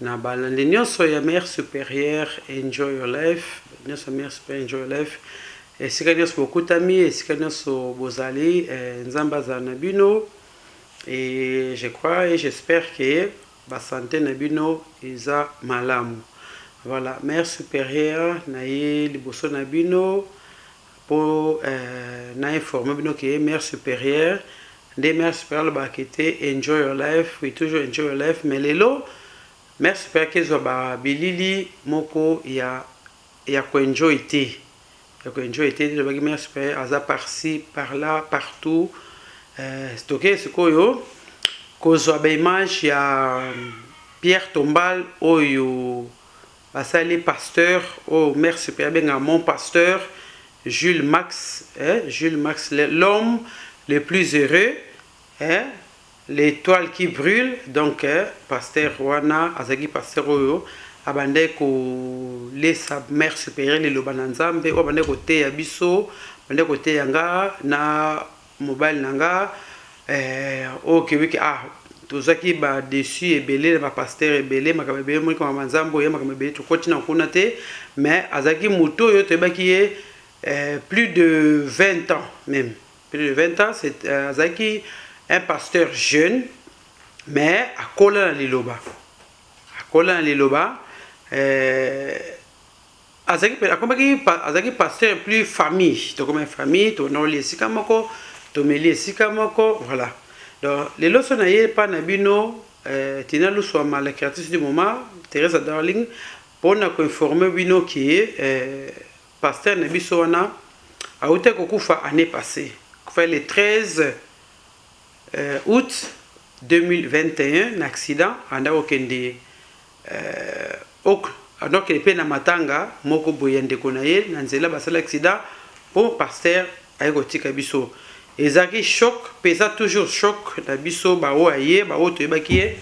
Na balandi nionso ya mère superieure enjoy your life nionso ya mère superieure enjoy your life esika nionso bokutami esika nionso bozali nzambe azala na bino et je crois et j'espère que ba sante na bino eza malamu voilà mère superieure na ye liboso na bino Po na informer bino ke mère superieur nde mère superieur alobaka ke te enjoy your life we toujours enjoy your life mais lelo mère superieur ake zua ba bilili moko ya ya ko enjoy te ya ko enjoy te elobaki mère superieur aza par ci par là partout eh toke sikoyo kozua ba image ya Pierre tombale oyo Basali ye pasteur oh merçi pe abengaka mon pasteur Jules Max eh Jules Max l'homme le plus heureux eh l'etoile qui brule donc pasteur wana azalaki pasteur oyo abandaki ko lesa mère superieur liloba na nzambe oyo abandaki koteya biso abandaki koteya nga na Mobali na nga eh, oh keweke ah tozwaki ba dessus ebele na ba pasteur ebele makambo ebele moni kama manzambo ya makambo ebele tokoti na kuna te mais azalaki moto oyo toyebaki ye eh, plus de 20 ans même plus de 20 ans c'est euh, azalaki un pasteur jeune mais akola na liloba akola na liloba eh, Azalaki pe akomaki azalaki pasteur plus famille tokomaki famille tonoli esika moko tomeli esika moko voilà donc lelo so na ye epa na bino euh, Tina Lusuama la créatrice du moment Teresa Darling pona ko informer bino ke euh, pasteur na biso wana auta kokufa année passée kufa le 13 euh, août 2021 na accident anda kokende Euh ok alors que pe na matanga moko boye ya ndeko na ye na nzela basali accident po pasteur aye kotika biso ezalaki choc pe eza toujours choc na biso ba oyo aye ba oyo toyebaki ye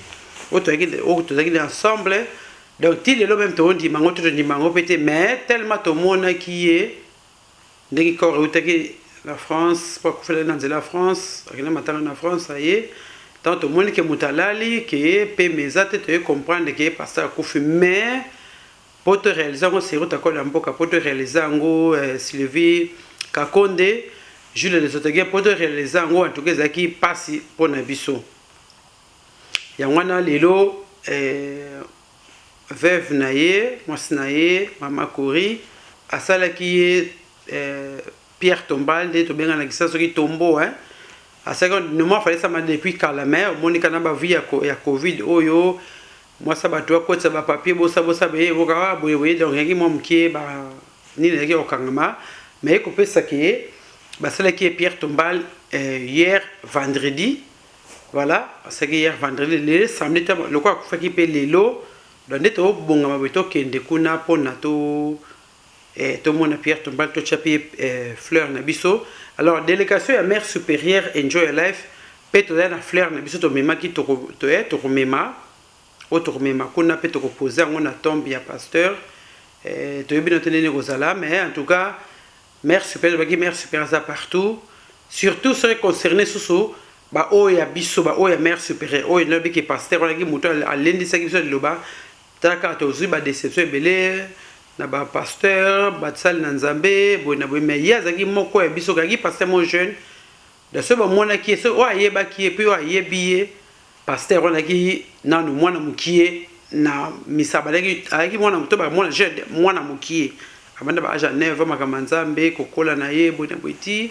oyo toyaki oyo tozalaki na ensemble donc ti lelo meme toondima yango to tondima yango pe te mais tellement tomonaki ye Ndenge Cor ewutaki na France po akufela na nzela ya France akenda matanga na France aye tango tomoni ke moto alali ke pema eza te toye comprendre ke pasteur akufi mais po to realiser yango Sir Ruth akola mboka po to realiser yango Sylvie Kakonde Jules Lesotogen po to realiser yango en tout cas ezalaki pasi pona biso yango wana lelo eh, Veuve na ye, mwasi na ye mama Cory asalaki ye Pierre tombale nde tobenga na kisa soki tombo hein asalaki on nomoi afale sama depuis kala mais omoni kana ba vie ya covid oyo mwasi ya bato akotisa ba papier bosa bosa beye ekoka boye boye donc yaki mwa mokie ba nini yaki kokangama mais ekopesa ke basalaki ye Pierre tombale hier vendredi Voilà, asaki hier vendredi, le samedi te loko akufaki pe lelo. Donc nde to bongama boye to kende kuna pona to eh, to mona Pierre Tombal to tia pe eh, fleur na biso. Alors délégation ya mère supérieure enjoy your life pe to na fleur na biso to memaki to to eh, to mema o to mema kuna pe to ko poser yango na tombe ya pasteur. Eh, to yebi na tenene ko zala mais en tout cas Mère supere elobaki mère supere aza partout surtout soki concerne susu ba oyo ya biso ba oyo ya mère supere oyo nalobi ke pasteur wana ki moto alendisaki biso liloba tala kaka tozwi ba deception ebele na ba pasteur basali na nzambe boye na boye mais ye azalaki moko ya biso kaki pasteur mo jeune Donc soki bamonaki ye, soki oyo ayebaki ye pe oyo ayebi ye, pasteur wana azalaki nanu mwana mukie na misa, abandaki, azalaki mwana moto, bamona jeune, mwana mukie, abanda ba age ya neuf ans, makambo ya Nzambe, kokola na ye, boye na boye, tii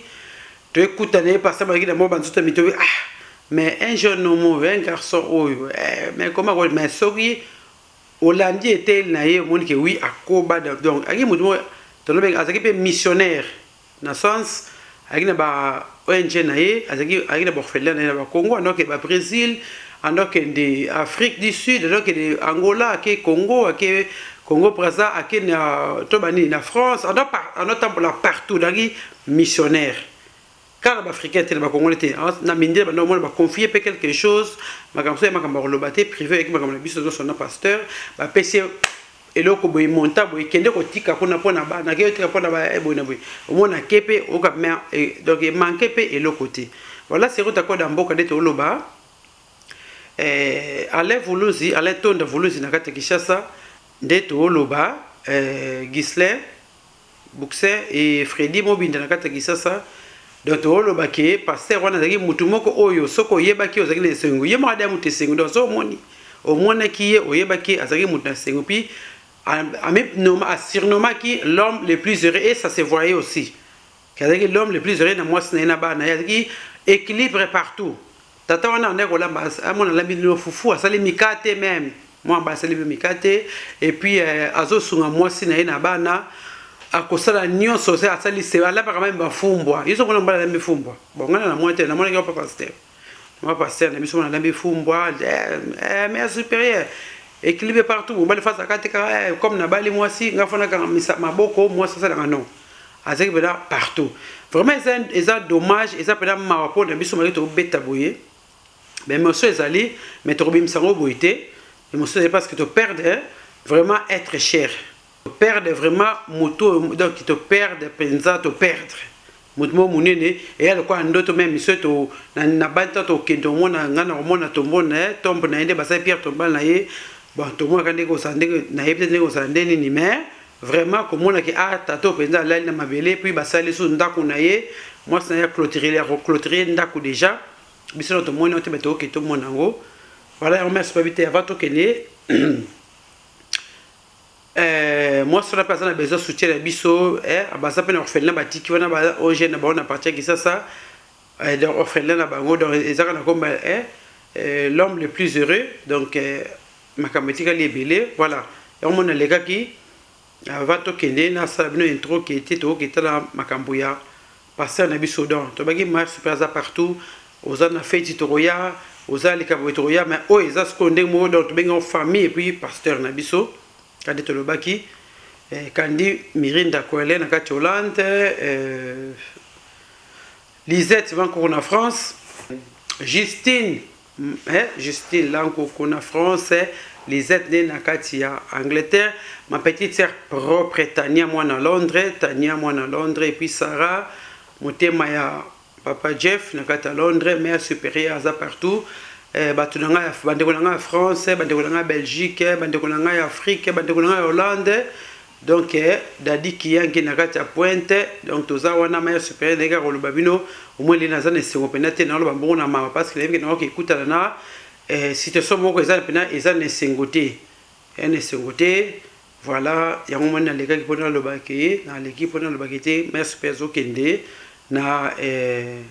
toyekutana na ye, pasteur abandaki na mwa banzoto ya mito, ah! Mais un jeune homme oyo, un garçon oyo, eh! Mais comment ako, mais soki olandi eteyeli na ye, omoni ke oui, akoba, donc azalaki mutu moko, tolobi, azalaki pe missionnaire, Na sens ayaki na ba ong na ye azalaki ayaki na ba orphelins na ye na ba Congo ando akende ba Bresil ando akende Afrique du Sud ando akende Angola ake Congo ake Congo Brazza ake na to ba nini na France ando ando atambola partout azalaki missionnaire kaka na ba Africain te na ba Congolais te na mindele banda omona ba confie pe quelque chose makambo so ya makambo ya koloba te prive ayaki makambo na biso nyonso na pasteur bapesi ye eloko boye monta boye kende kotika kuna mpo na bana ke otika mpo na ba eh, boye na boye omona ke mpe oka me eh, donc emanke mpe eloko te voilà seko takoda mboka nde toloba eh, alain vuluzi alain tonda vuluzi na kati ya kinshasa nde toloba eh, gislin Boxer et Freddy Mobinda na kati ya Kisasa donc toloba ke pasteur wana azalaki mutu moko oyo soki oyebaki ozalaki na esengo ye moko adaya mutu esengo donc soki omoni omonaki ye oyebaki azalaki mutu na esengo puis asirnomaki l'homme le plus heureux et ça se voyait aussi azalaki l'homme le plus heureux na mwasi na ye na bana ye azalaki équilibre partout Tata wana abandaki kolamba amona alambi lino fufu asali mikate meme mwana ba asali yo mikate et puis euh, azosunga mwasi na ye na bana akosala nyonso se asali se alambaka meme bafumbwa yeso mona mbala alambi fumbwa bon ngana na mwa te namonaki yo papa pasteur mwa pasteur na biso mona alambi fumbwa eh, eh, mère supérieure ekilibe partout mobali fasa kati kaka eh, comme nabali mwasi nga fona kaka maboko mwasi asalaka non Azaki pena partout. Vraiment eza eza dommage eza pena mawa po na biso maye to beta boye. Mais mosso ezali mais to kobimisa ngo boye te. Mais mosso ezali parce que to perdre vraiment être cher. To perdre vraiment moto donc to perdre penza to perdre. Moto mo munene et ya lokola ndoto même miso to na na banta to kendo mo na nga na mo na tombo na tombe na ende basai Pierre tomba na ye. Bon tombo ka ndeko sa ndeko na ye peut-être ndeko sa ndeni ni mais Vraiment komona ke ah tata oyo penza alali na mabele puis basali lisusu ndako na ye mwasi na ye acloturele akoclotire ye ndako deja biso na tomoni yango te bato oke tomona yango voilà yango merci babi te avant tokende eh, mwasi wana mpe aza na besoin soutien na biso eh, baza mpe na orphelina batiki wana ba ong na bango na parti ya kisasa Eh donc orphelin na bango donc eza kaka na komba eh, eh, l'homme le plus heureux donc eh, makambo etikali ebele voilà yango mona alekaki avant tokende nasala bino intro ke te tokoki etala makambo ya pasteur na biso donc tobaki marche mpe aza partout oza na feti tokoya oza likambo tokoya mais oyo eza sikoyo ndenge moko donc tobengi yango famille epuis pasteur na biso Kadi tolobaki eh, Kandy Mirinda Kwele na kati Hollande eh, Lisette Bankoko na France Justine mm, eh, Justine Lankoko na France eh, Lisette nde na kati ya Angleterre ma petite sœur propre Tania mwana Londres Tania mwana Londres et puis Sarah motema ya Papa Jeff na kati ya Londres, Mère Superieure aza partout, eh, batu na nga ya bandeko na nga ya France, bandeko na nga ya Belgique, bandeko na nga ya Afrique, bandeko na nga ya Hollande. Donc eh, Daddy Kiyangi na kati ya Pointe, donc toza wana Mère Superieure ndenge kaka koloba bino, au moins lena aza na esengo pena te na loba mbongo na mawa parce que nayebi na oki kutana na eh, situation moko eza pena eza na esengo te. Eza na esengo te. Voilà yango omoni nalekaki po naloba ke naleki po naloba ke te mère Super azokende na eh,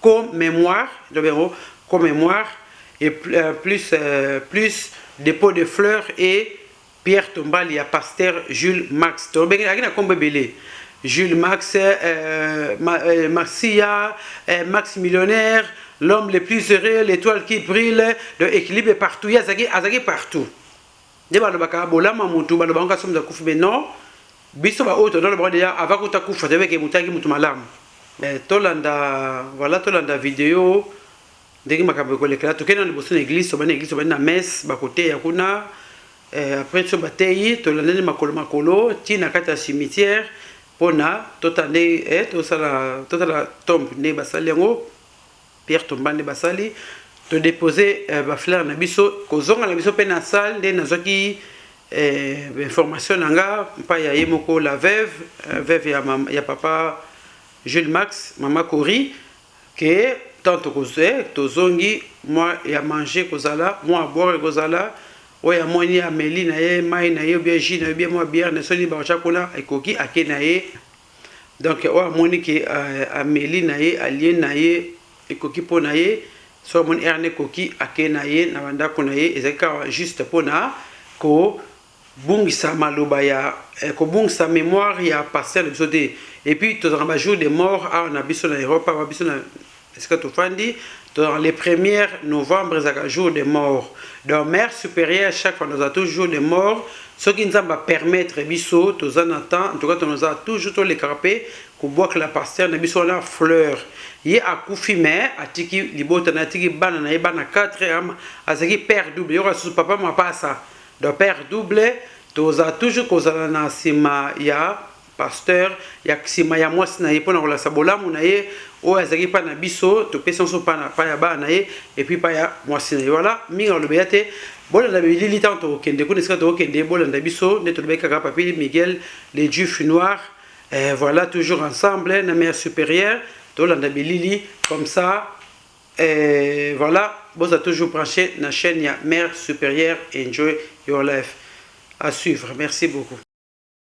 co memoire ndobe yango co memoire et euh, plus euh, plus dépôt de fleurs et Pierre Tombali ya pasteur Jules Max tolobenge alaki na kombo ebele Jules Max euh, ma, euh, Marcia euh, Max millionnaire l'homme le plus heureux l'étoile qui brille de équilibre partout ye azalaki azalaki partout Nde balobaka bolama mutu baloba ngo kasi mutu akufi mais non biso ba oyo tondolo bango deja avant kuta kufa toyebi ke mutu ayaki mutu malamu eh, tolanda voilà tolanda video ndenge makambo ekolekela tokei na liboso na eglise tobandi na eglise tobandi na messe bakoteya kuna eh, après so bateyi tolandani makolo makolo ti na kati ya cimetière mpona totande eh, tosala totala tombe nde basali yango Pierre tomba nde basali to depose eh, ba fleur na biso kozonga na biso pe na salle nde nazwaki eh, information na nga mpa ya ye moko la veuve eh, veuve ya, mama, ya papa Jules Max mama Cori ke tant tokozwe tozongi mwa ya manger kozala mwa ya boire kozala oyo amoni ameli na ye mai na ye obia jus na ye obia mwa biere na soni bakotya kuna ekoki ake na ye Donc oyo amoni ke euh, ameli na ye alie na ye ekoki mpo na ye soki amoni heure na ekoki ake na ye na bandako na ye ezali kaka juste mpo na kobungisa maloba ya eh, kobungisa memoire ya pasteur na biso te epuis tozalaka bajour de mort awa na biso na europe awa biso na esika tofandi dans les premières novembre ezalaka jour de mort donc mère supérieure chaque fois toza tout jour de mort soki nzambe apermettre biso toza na temps en tout cas tonoza toujours tolekaka mpe kobwakela pasteur na biso wana fleur ye akufi me atiki libota na atiki bana na ye bana 4 am azalaki père double yoka susu papa mapasa donc père double toza toujours kozala na nsima ya Pasteur ya sima ya mwasi na ye mpo na kolakisa bolamu na ye oyo azalaki epai na biso, topesi yango epai na epai ya bana na ye epuis epai ya mwasi na ye. Wala mingi nakolobela te, bolanda bilili ntango tokokende kuna, esika tokokende bolanda biso, nde tolobaki kaka Papi Miguel le Juif noir, eh, voilà toujours ensemble na Mère Superieure, tolanda bilili comme ça, eh, voilà, boza toujours branché na chaîne ya Mère Superieure, enjoy your life. À suivre, merci beaucoup.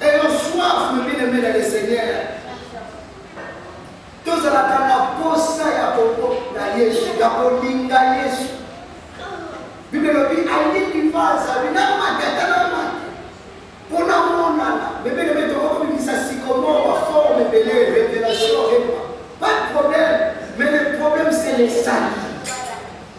Ayons soif mes bien aimes dans le seigneur tozalaka na posa ya koko na yesu ya kolinga yesu bible elobi alingi mpo azali na matata na mate mpo na monana mebeleme tokokobimisa sikomo baforme ebele revelation epa pas de problème mais le problème c'est les sali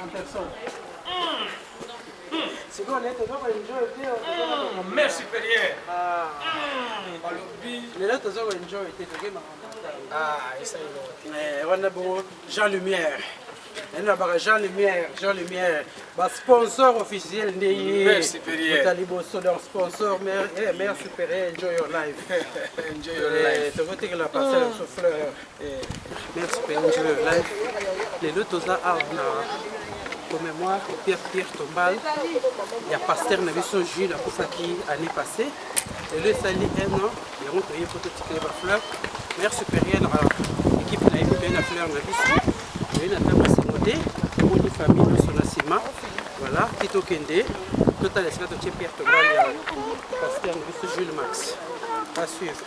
en personne. Mm. Mm. sikoyo naye toza koenjoy te mm. mère supérieure ah. mm. balobi lelo toza koenjoy te toke makambo wana bongo jean lumière nani nabaka jean lumière jean lumière basponsor officiel nde yeota liboso donc sponsor mère supérieure enjoy your life tokotikela parcelle sous fleur Eh, merci mpe angelo yo life lelo toza awa na commémoire pierre pierre tombal ya pasteur na biso jules akufaki année passé lelo esali un an yango toye mpo totikele bafleur mare supérieure na équipe na ye mpe na fleur na biso toye na ntango esengo te omoni famille nyonso na nsima voilà ti tokende totala esika totie pierre tombal ya pasteur na biso jules max asuivre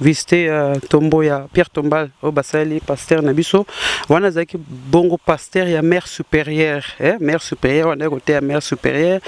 visite ya euh, tombo ya Pierre Tombal oyo basali pasteur na biso wana azalaki bongo pasteur ya mère supérieure eh? mère supérieure wana ya koteya mère supérieure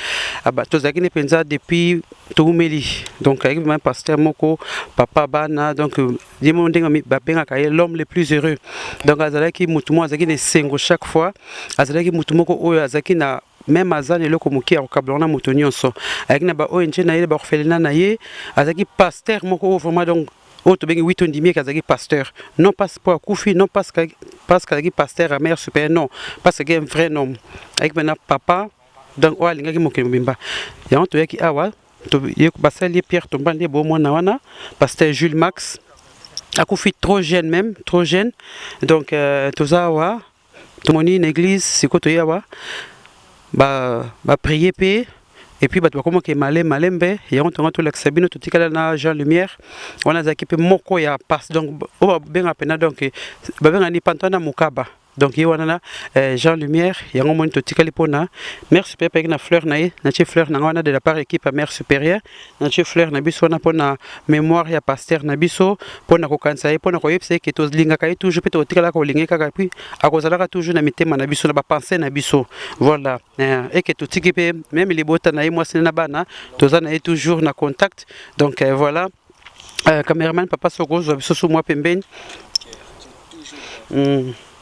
ah, tozalaki nde mpenza depuis toumeli donc ayaki vraiment pasteur moko papa bana donc euh, ye moko ndenge babengaka ye l'homme le plus heureux donc azalaki motu moko azalaki na esengo chaque fois azalaki motu moko oyo azalaki na meme aza na eloko moke ya kokabla wana moto nyonso ayaki na ba ong na ye na baorphelina na ye azalaki pasteur moko oyo vraiment donc oyo tobengi wito ndimi eke azalaki pasteur non pas mpo akufi non parce que azalaki pasteur amere super non parce que un vrai nom ayaki mpena papa donc oyo alingaki mokili mobimba yango toyaki awa basali ye pierre tomba nde bo mwana wana pasteur jules max akufi trop jeune même trop jeune donc euh, toza awa tomoni na eglise sikoyo toye awa baprie mpe epuis bato bakoma ke male malembe yango tonga tolakisa bino totikala na jean lumière wana azalaki mpe moko ya pas donc oyo babengaka mpena donc babengaka ni pantana mokaba donc ye wana na eh, jean lumière yango moni totikali mpona mère supérieure mpe ayaki na fleur na ye natie fleur na ngai wana de la part équipe ya mère supérieure na tie fleur na biso wana mpo na memoire ya pasteur na biso mpo na kokanisa ye mpo na koyebisa ye ke tolingaka ye toujours mpe tokotikala kolinga ye kaka puis akozalaka toujours na mitema na biso na bapense na biso voilà eh, eke totiki mpe meme libota na ye mwasi na bana toza na ye toujours na contact donc eh, voilà euh, cameraman papa soko ozwa biso su mwa pembeni mm.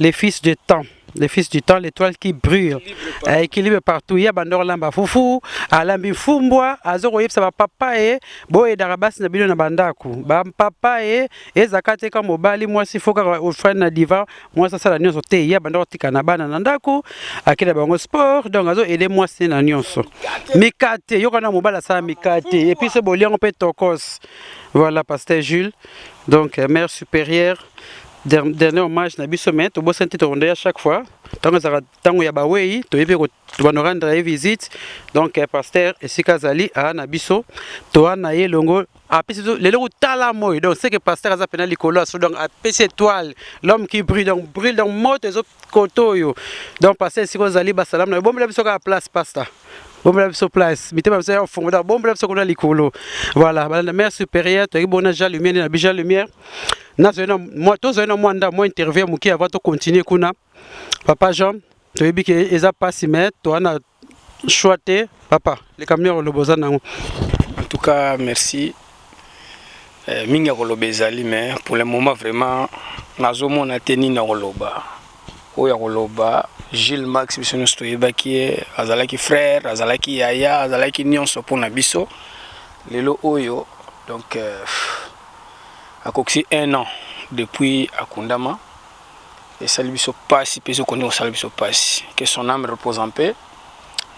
le fils de temps le fils du temps, l'étoile qui brûle, équilibre partout. Il y a bandor lamba fufu, alambi mfumbwa, azoko yebisa ba papa e, bo e darabas na bino na bandaku. Ba papa e, e zakate ka mobali, moi si foka ofrane na diva, moi sa sala nyoso te. Il y a bandor tika na bana na ndaku, akela bango sport, donc azo aider moi si na nyoso. Mikate, yoko na mobala sa mikate, et puis ce boliango pe tokos. Voilà, pasteur Jules. Donc, euh, mère supérieure, dernier hommage na biso mais tobosani te tokondo ya chaque fois ntango ezalaka ntango ya bawei toye mpe tobando rendre ye visite donc eh, pasteur esika azali aa na biso toa na ye elongo apesi biso lelo kotala moi donc seke pasteur aza mpena likolo aso donc apesi étoile l'homme qui brille donc brille donc moto ezo kote oyo donc pasta esika ozali basalamu na yo bombela biso kaka place pasta bombela biso place mitema biso ya kofungola bombela biso kuna likolo voilà balanda mère supérieure toyaki bona jean lumière na bi jean lumière nazali na mwa tozali na mwa nda mwa interview ya moke avant tocontinue kuna papa jean toyebi ke eza mpasi me toana choix te papa likambo ya koloba oza nango en tout cas merci eh, mingi ya koloba ezali mais pour le moment vraiment nazomona te nini ya koloba oyo ya koloba Gilles Max biso nyonso toyebaki ye azalaki frère azalaki yaya azalaki nyonso mpo na biso lelo oyo donc euh, akokisi un an depuis akundama esali biso pasi pe ezo kondi kosala biso pasi que son ame repose en paix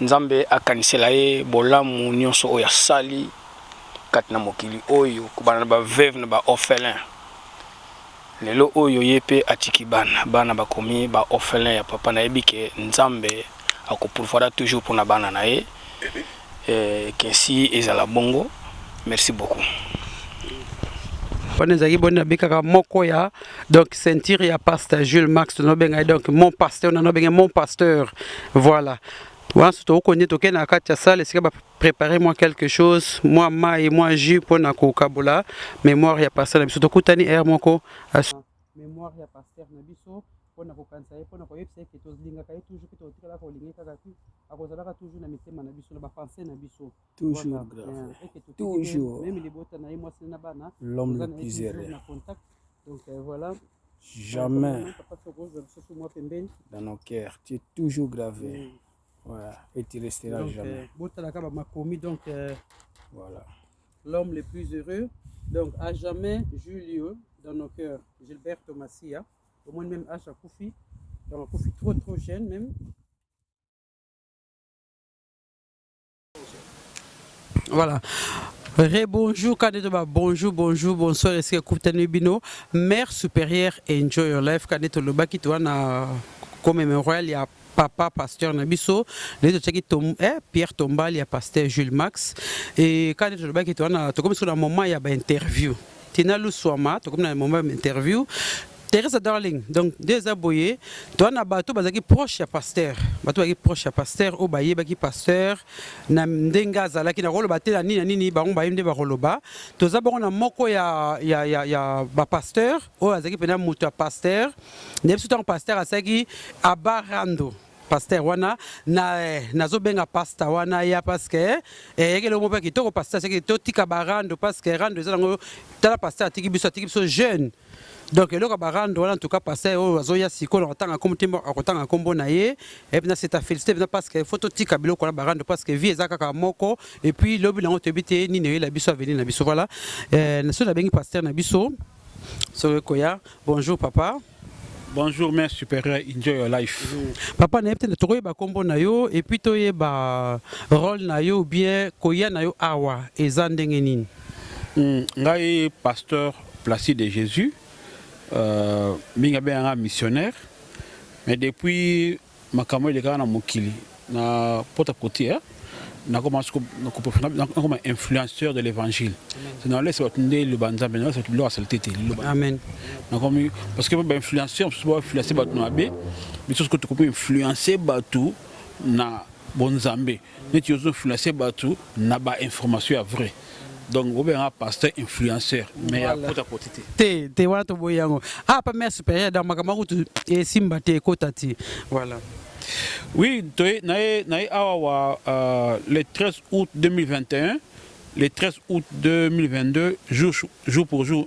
nzambe akanisela ye bolamu nionso oyo asali kati na mokili oyo kobana na ba veuve na ba orphelins lelo oyo ye pe atiki bana bana bakomi ba orphelins ya papa nayebi que nzambe ako pourvoira toujours pona bana na ye Eeh Kinsi ezala bongo merci beaucoup. Wana ezalaki boni na bikaka moko ya donc ceinture ya pasta Jules Max no benga ye donc mon pasteur na no benga mon pasteur voilà wana so tokondi tokende na kati ya salle esika ba préparer moi quelque chose moi mai moi jus mpo na kokabola mémoire ya pasteur na biso tokutani heure moko mémoire ya pasteur na biso mpo na kokanisa ye mpo na koyebisa ye ke tolingaka ye toujours mpe tokotikala kolinga ye kaka te akozalaka toujours na mitema na biso na bapense na biso meme libota na ye mwasi na bana na contact donc euh, voilà jamais dans nos cœurs tu es toujours gravé voilà et tu resteras donc, jamais euh, botalaka bamakomi donc euh, voilà l'homme le plus heureux donc à jamais Julio dans nos cœurs Gilberto Massia omoni meme age akufi donc akufi trop trop jeune meme voilà Rebonjour, Kanetoba, bonjour, bonjour, bonsoir, est-ce que Koutane Bino, mère supérieure, enjoy your life, Kaneto Lobaki, toi, na comme mémorial, il y a papa pasteur na biso lelo totiaki tom, eh, pierre tombal ya pasteur jules max e kani tolobaki ete wana tokomi soki na moment ya bainterview tina luswama tokomi na moment ya bainterview Teresa Darling donc nde eza boye toa na bato bazalaki proche ya pasteur bato bazalaki proche ya pasteur oyo bayebaki pasteur na ndenge azalaki nakoloba te na nini na nini bango bayebi nde bakoloba toza bongo na moko ya, ya, ya, ya bapasteur oyo azalaki mpena moto ya pasteur na biso ntango pasteur asalaki abarando pasteur wana na eh, nazobenga pasta wana ya paske eh, eyeke eloko moko ya kitoko pasteur seke totika barando paske rando eza nango tala pasteur atiki biso atiki biso jeune donc eloko ya barando wana ntuka pasteur oyo azoya sikoyo na kotanga nkombo te akotanga nkombo na ye epuis na seta félicité mpena paske fo totika biloko wana barando paske vie eza kaka moko epuis lobi nango toyebi te nini eyela biso avenir na biso voilà eh, na soki nabengi pasteur na biso Soki koya, bonjour papa. Bonjour mère supérieure, enjoy your life. Papa nayebi te tokoyeba kombo na yo et puis toyeba role na yo ou bien koya na yo awa eza ndenge nini? Mm, ngai pasteur Placide de Jésus, euh, mingi abengaka missionnaire, mais depuis Makambo elekaka na mokili na pot à cote eh? nakoma siko nakoma influenceur de l'évangile nalesa bato nde liloba nzambe nalesa bato biloko ya salite te liloba amen nakomi parce que ba influenceur mosusu bainfluence bato na mabe biso siko tokomi influence bato na bonzambe neti ozo influencer batu na ba information ya vrai donc bobe yanga pasteur influenceur mais ya kota koti te te te wana toboyi yango ah pa mère supérieure donc makambo akutu esimba te ekota te voilà oui toye naye naye awa wa euh, le 13 août 2021 le 13 août 2022 jour jour pour jour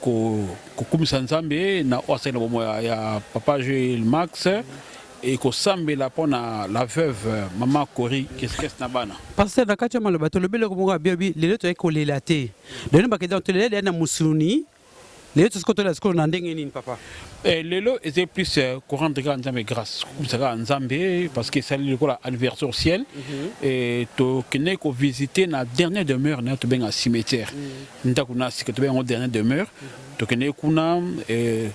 ko kokumisa Nzambe na oyo asali na bomoi ya, ya papa Joel Max et kosambela mpo na la veuve mama Cory Keskes na bana. Pasteur na kati ya maloba tolobi eloko moko ya bien bi lelo toyaki kolela te lelo bakende donc tolela lela na musuluni lelo tosi kotolela sikoyo na ndenge nini papa Eh, lelo ezali plus eh, korendre kaka nzambe grâce kokumisa kaka nzambe parce que esali lokola anniversaire au ciel Eh, tokendeki kovisite na dernière demeure na yo tobenga cimetière Ndaku na sika tobenga yango dernière demeure tokendeki kuna eh,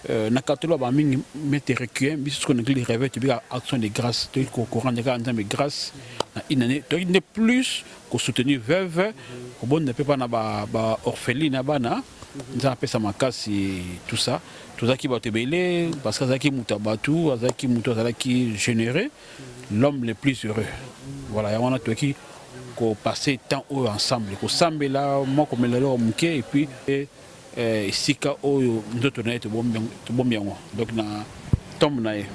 Euh, na katolo ba mingi mete requiem biso sikoyo na ngili reve tobika action de grâce toyei kokorande kaka nzambe grâce na une année toyei nde plus kosoutenir veuve kobonda mpe mpa na baorpheline ya bana nzambe apesa makasi tout ça tozalaki bato ebele parce que azalaki moto ya bato azalaki moto azalaki généreux l'homme le plus heureux voilà yango wana toyaki kopase temps oyo ensemble kosambela mwa komela eloko moke epuis eh, esika oyo nzoto na ye tobombi yango donc na tombe na ye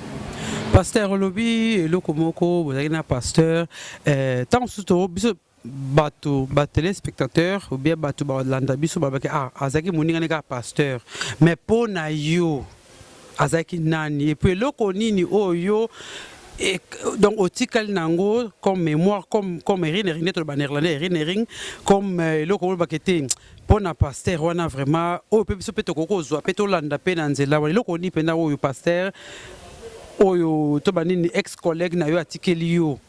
pasteur olobi eloko moko bozalaki na pasteur ntango eh, mosusu biso batu ba telespectateurs ou bien batu ba landa biso ba baki ah azaki moninga ne kaka pasteur mais po na yo azaki nani et puis eloko nini oyo yo et donc otikali nango comme mémoire comme comme erinering nde toloba néerlandais erinering comme euh, eloko oyo lobaka ete mpo na paster wana vraiment oyo mpe biso mpe tokoki kozwa mpe tolanda mpe na nzela wana eloko nini mpenza oyo paster oyo to banini ex collègue na yo atikeli yo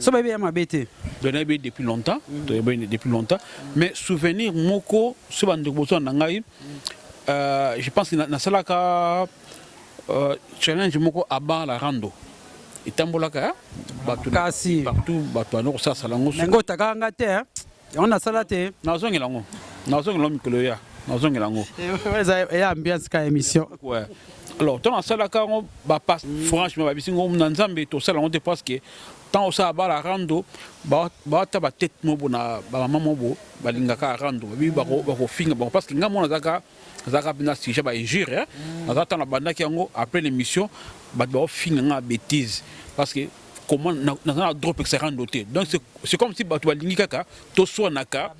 so bayebi ya mabe te donc nayebi ye depuis longtemps toyebi depuis longtemps mais souvenir moko so bandeko bozwa na ngai euh, je pense nasalaka euh, challenge moko aba la rando etambolaka bato partout bato yango kosala sala yango yango otakaka nga te Yango nasala te. Nazongela yango. Nazongela yango mikolo ya. Nazongela yango. Eza eh, ya ambiance ka émission. Ouais. Alors, ntango asalaka yango bapasse mm. franchement babisi ngo na nzambe tosala yango te parce que ntango osala bala rando bawata batete mobo na bamama mobo balingaka rando babibi bakofinga bango parce que ngai mona azaka azaka mpenza sujet ba injure aza ntango abandaki yango après l'émission bato baofinga ngai bêtise parce que comment naza na droit opekisa rando te donc c'est comme si bato balingi kaka toswanaka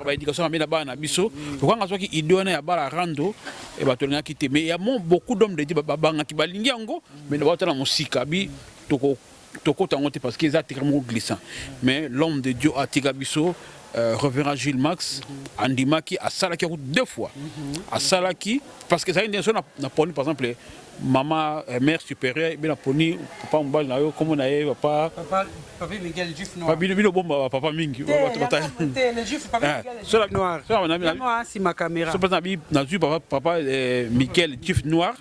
baéducation mabe na bana na biso lokanga azwaki idée wana ya bala rando e bato alingaki te mais ya mo beaucoup d'homme de di babangaki balingi yango mais na bato na mosika bi toko tokota yango te parce que eza tika moko glissant mais l'homme de dieu atika biso Euh, révérend Jules Max andimaki asalaki yango deux fois mhm. asalaki parce que ezalaki ndenge so na poni par exemple Maman mère superieur bino poni papa mobali na yo kombo na ye papa papa papa Miguel juif noir bino bino bomba ba papa mingi bato bata te le juif papa eh, Miguel juif noir sola na mina noir si ma caméra sola na bi na juif papa papa eh, Miguel juif noir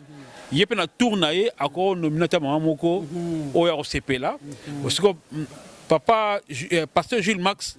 ye pe na tour na ye ako nominata maman moko mhm. oyo akosepela mhm. osiko mm, papa eh, pasteur Jules Max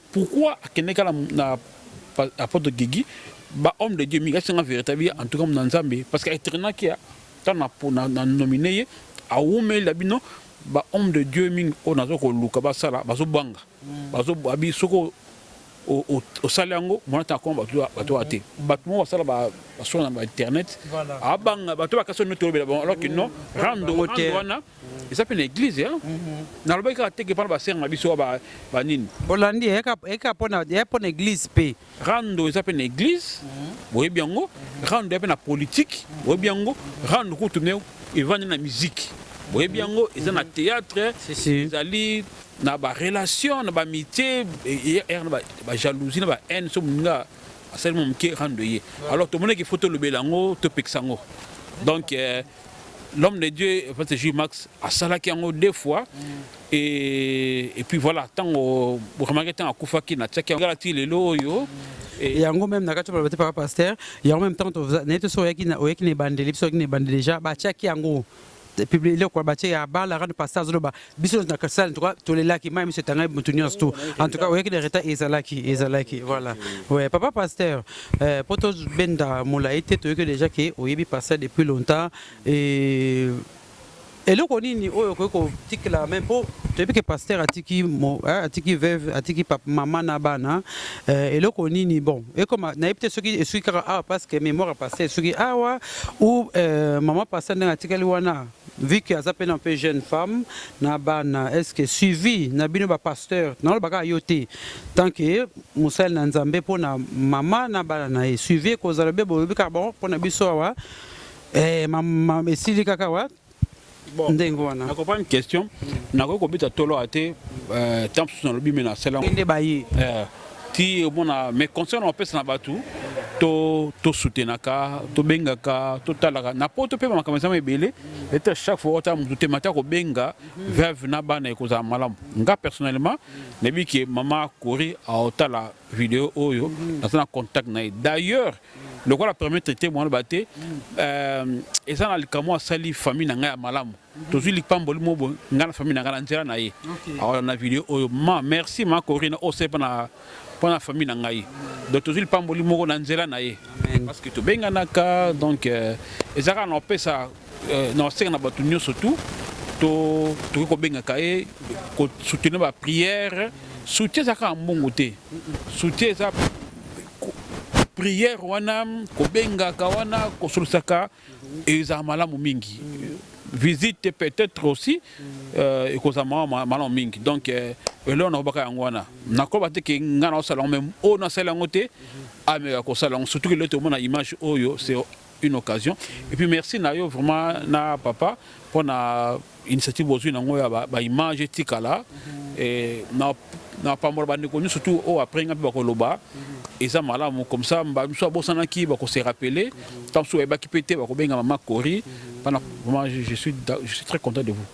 Pourquoi akende kala na apotre Gigi ba homme de Dieu mingi asenga nga verite bi en tout cas na Nzambe parce que etrena kia tant na na, na nominer ye awumeli la bino ba homme de Dieu mingi o nazo ko luka ba sala bazo banga mm. bazo abi soko osali yango mwana ntango akoma bato oyo te bato moko basala basonga na bainternet abanga bato bakasi oyo neti olobela bango alors que non rando wana eza mpe na eglize ya nalobaki kaka teke mpana basere na biso wa banini bolandi eka mpo na eglize mpe rando eza mpe na eglize boyebi yango rando ya mpe na politike boyebi yango rando kutu me evandi na miziki boyebi yango eza na théâtre ezali na barelation na bamitié na bajalousie na bahaine so moninga asali mo moke rando ye alors tomonaki fo tolobela yango topekisa yango donc euh, l'homme de Dieu parce que Max asalaki yango deux fois et et puis voilà tango remarquer tango akufaki na tiaki ngala ti lelo oyo et yango même na kati ba papa pasteur yango même temps na to so yaki na oyaki na bandeli biso yaki na bandeli déjà ba tiaki yango publier le quoi ba tiaki ya bala ran pasteur zoloba biso na kasal tout cas tolelaki mai miso etangaki motu nyonso tu en tout cas oyaki na retard ezalaki ezalaki voilà ouais papa pasteur euh, mpo tobenda molai te toyoki déjà ke oyebi pasteur depuis longtemps et eloko nini oyo okoki kotikela me mpo toyebi ke pasteur atiki eh, atiki veuve atiki mama na bana eh, eloko nini bon ekoma nayebi te soki esuki kaka awa parce que mémoire ya pasteur esuki awa ou eh, mama pasteur ndenge atikali wana Vu que aza pena mpe jeune femme na bana est ce que suivi na bino ba pasteur naloba kaka yo te tant que mosali na nzambe mpo na mama na bana na ye suivi ekozala be bolobi kaka bon mpo na biso awa eh, ma, ma, esili kaka awa bon. ndenge wana na comprendre question nakoki kobeta tolo awa te euh, temps mosusu nalobi me nasala nde baye eh. ti omona mais conseil na opesa na bato to tosutenaka tobengaka totalaka na poto mpe makambo ezama ebele ete chaque fois ota motu te mata kobenga veuve na bana ekozala malamu nga personnellement nayebi ke mama kori aotala video oyo naza na contact na ye d'ailleurs lokola permettre te mwana ba te euh, eza na likambo asali famille na ngai ya malamu tozwi lipamboli mo boye ngai na famille na ngai na nzela na ye awa na video oyo ma merci ma corina osali mpo na mpo na famille na ngai donc tozwi lipamboli moko na nzela na ye parce que tobenganaka donc euh, eza kaka na opesa euh, na osenga na bato nyonso tu to tokoki kobengaka ye kosoutenir baprière soutien eza kaka mbongo te soutien eza prière wana kobengaka wana kosolisaka Ezala malamu mingi. Visite peut-être aussi euh, ekozala mawa malamu mingi donc euh, eloko nakobaka yango wana nakoba te ke ngai naosala yango meme oyo nasali yango te ameka kosala yango surtout kelelo tomona image oyo c'est une occasion et puis merci na yo vraiment na papa mpona Initiative bozui na ngo ya ba, ba image etikala eh, na na pambola ba ndeko nyoso tout oyo après nga pe bakoloba eza malamu comme ça ba misu abosanaki bako se rappeler tant misu bayebaki pe te bakobenga mama Cory pana vraiment je, je suis je suis très content de vous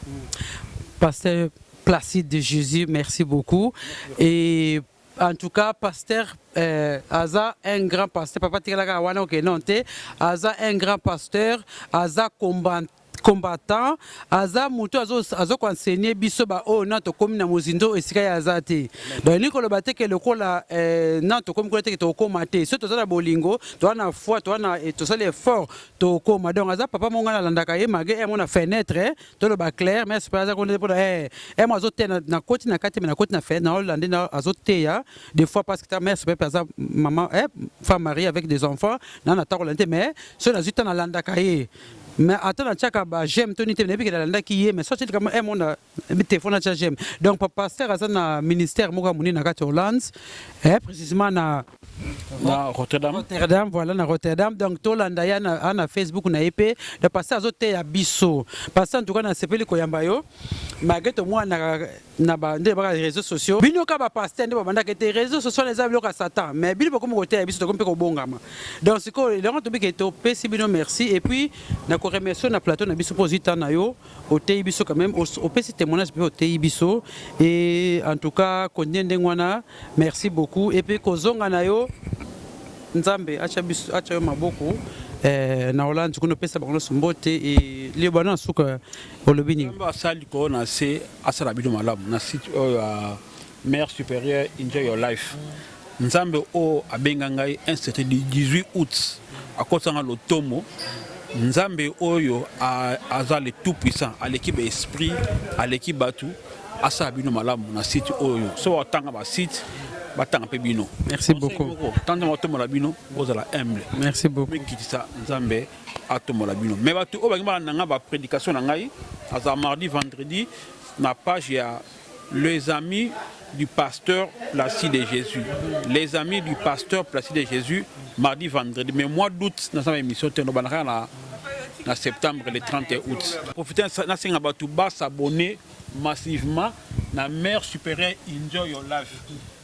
Pasteur Placide de Jésus merci beaucoup et en tout cas pasteur euh, aza un grand pasteur papa tikalaka wana oke non te aza un grand pasteur aza combattant combattant aza mutu azo azo ko enseigner biso ba oyo na tokomi na mozindo esika ya aza te donc elingi koloba te ke lokola eh, na tokomi kuna te ke tokokoma te so toza na bolingo toza na foi toza na eh, tosali effort tokokoma donc aza papa monga nalandaka ye malgré ye mona fenêtre eh, toloba clair mais super aza kuna pona eh eh mo azo te na, na koti na kati mais na koti na fenêtre na olande na azo teya des fois parce que ta mère super aza maman eh femme mariée avec des enfants na na takolande te mais so nazui ta nalandaka ye mais ata na tiaka ba j'aime to nite nayebi ke nalandaki ye mais soki likambo eh mona telefone atia j'aime donc papa pasteur aza na ministère moko ya monene na kati ya hollande eh précisément na na rotterdam rotterdam voilà na rotterdam donc tolanda ye ana na facebook na ye mpe donc pasteur azoteya biso pasteur en tout cas nasepeli koyamba yo malgré tomonanaka na ba nde baka réseaux sociaux bino ka ba pasteur nde babandaka ete réseaux sociaux wana eza biloko ya satan mais bino bokomi koteya biso tokomi mpe kobongama donc sikoyo elongo tobi ke topesi bino merci et puis na ko remercie na plateau na biso mpo ozwi temps na yo oteyi biso quand même os- opesi témoignage mpe oteyi biso et en tout cas continue ndenge wana merci beaucoup et puis kozonga na yo nzambe atya biso atya yo maboko eh, na hollande kuna opesa bango nyonso mbote e liyoba na nsuka olobi nini Nzambe asala likolo na se asala bino malamu na site oyo ya mère supérieure enjoy your life Nzambe oyo abenga ngai un certain 18 août akotisa ngai lotomo Nzambe oyo a, aza le tout puissant aleki ba esprit aleki batu asala bino malamu na site oyo so batanga ba site batanga mpe bino Merci Conseil beaucoup. moko tanzama tomola bino bozala humble Merci beaucoup. mikitisa Nzambe atombola bino mais bato oyo bakimaka nanga ba prédication na ngai azala mardi vendredi na page ya les amis du pasteur Placide de Jésus les amis du pasteur Placide de Jésus mardi vendredi mais mois d'août naza na émission te nobandaka na na septembre le 30 août profite nasenga bato basabone massivement na mère supérieure enjoy your life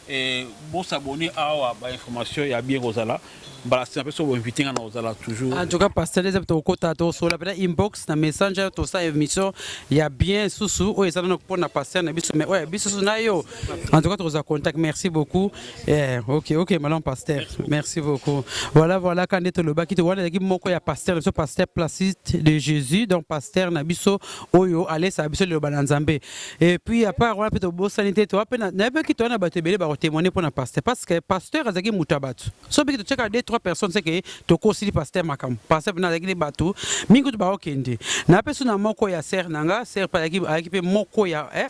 Eh, bo s'abonner awa ba information ya bien kozala mbala sima pe so bo inviter nga na kozala toujours. En tout cas pasteur les to kota to so la pena inbox na messenger to sa émission ya bien susu o ezana na pona pasteur na biso mais oya biso susu na yo. En tout cas to za contact merci beaucoup. Eh OK OK malam pasteur. Merci beaucoup. Voilà voilà quand to lobaki to wana ki moko ya pasteur na biso pasteur Placide de Jésus donc pasteur na biso oyo alesa biso le bananzambe. Et puis à part wana pe tobosani te toa pe na na pe kito wana bato ebele bako témoigner pona pasteur parce que pasteur azalaki moto ya bato so pe kito tiaka deux trois personnes c'est que tokosili pasteur makambo pasteur pena azalaki nde bato mingi kutu bakokende na pe suna moko ya sœur na nga sœur pe azalaki azalaki pe moko ya eh,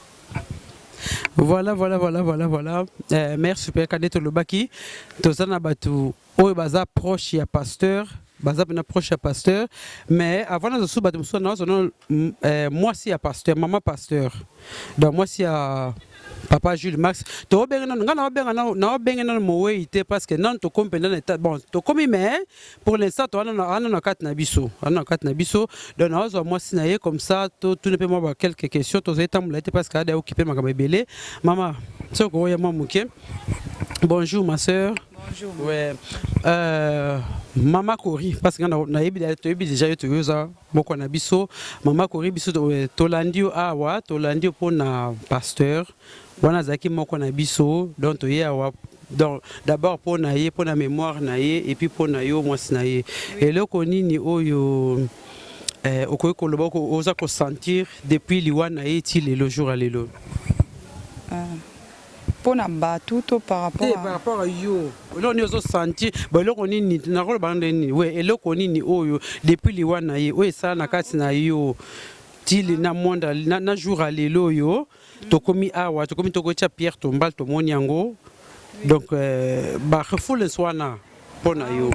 Voilà, voilà, voilà, voilà, voilà. Euh, mère super cadet tolobaki toza na bato oyo baza proche ya pasteur baza pena proche ya pasteur mais avant nazo suba bato mosusu nazo na eh, mwasi ya pasteur mama pasteur donc mwasi ya papa Jules Max tobenga nanu nga naobenga nanu naobenga nanu mowei te parce que nanu tokomi mpenza na etat bon tokomi mais pour l'instant toana na kati na biso ana na kati na biso donc naozwa mwasi na ye comme ça totuna mpe mwa ba quelques questions tozali tambola ye te parce que ada okipe makambo ebele mama soki okoya mwa moke bonjour ma sœur Bonjour. Ouais. Euh, mama kori parce que nayebi toyebi deja yo toyo oza moko na biso mama kori biso euh, tolandi yo awa tolandi yo mpo na pasteur wana azalaki moko na biso donc toye awa donc d'abord mpo na ye mpo na mémoire na ye epuis mpo na yo mwasi na ye eloko nini oyo eh, okoki koloba oza kosentir depuis liwa na ye ti lelo jour ya lelo ah. Pona batu to par rapport te par rapport à yo eloko nini ozo sentir bon eloko nini nako loba na ndenge nini oui eloko nini oyo depuis liwa na ye oyo esala na kati na yo ti na monde na jour ya lelo oyo tokomi awa tokomi toko tia pierre tombale tomoni yango donc ba refoules wana mpo na yo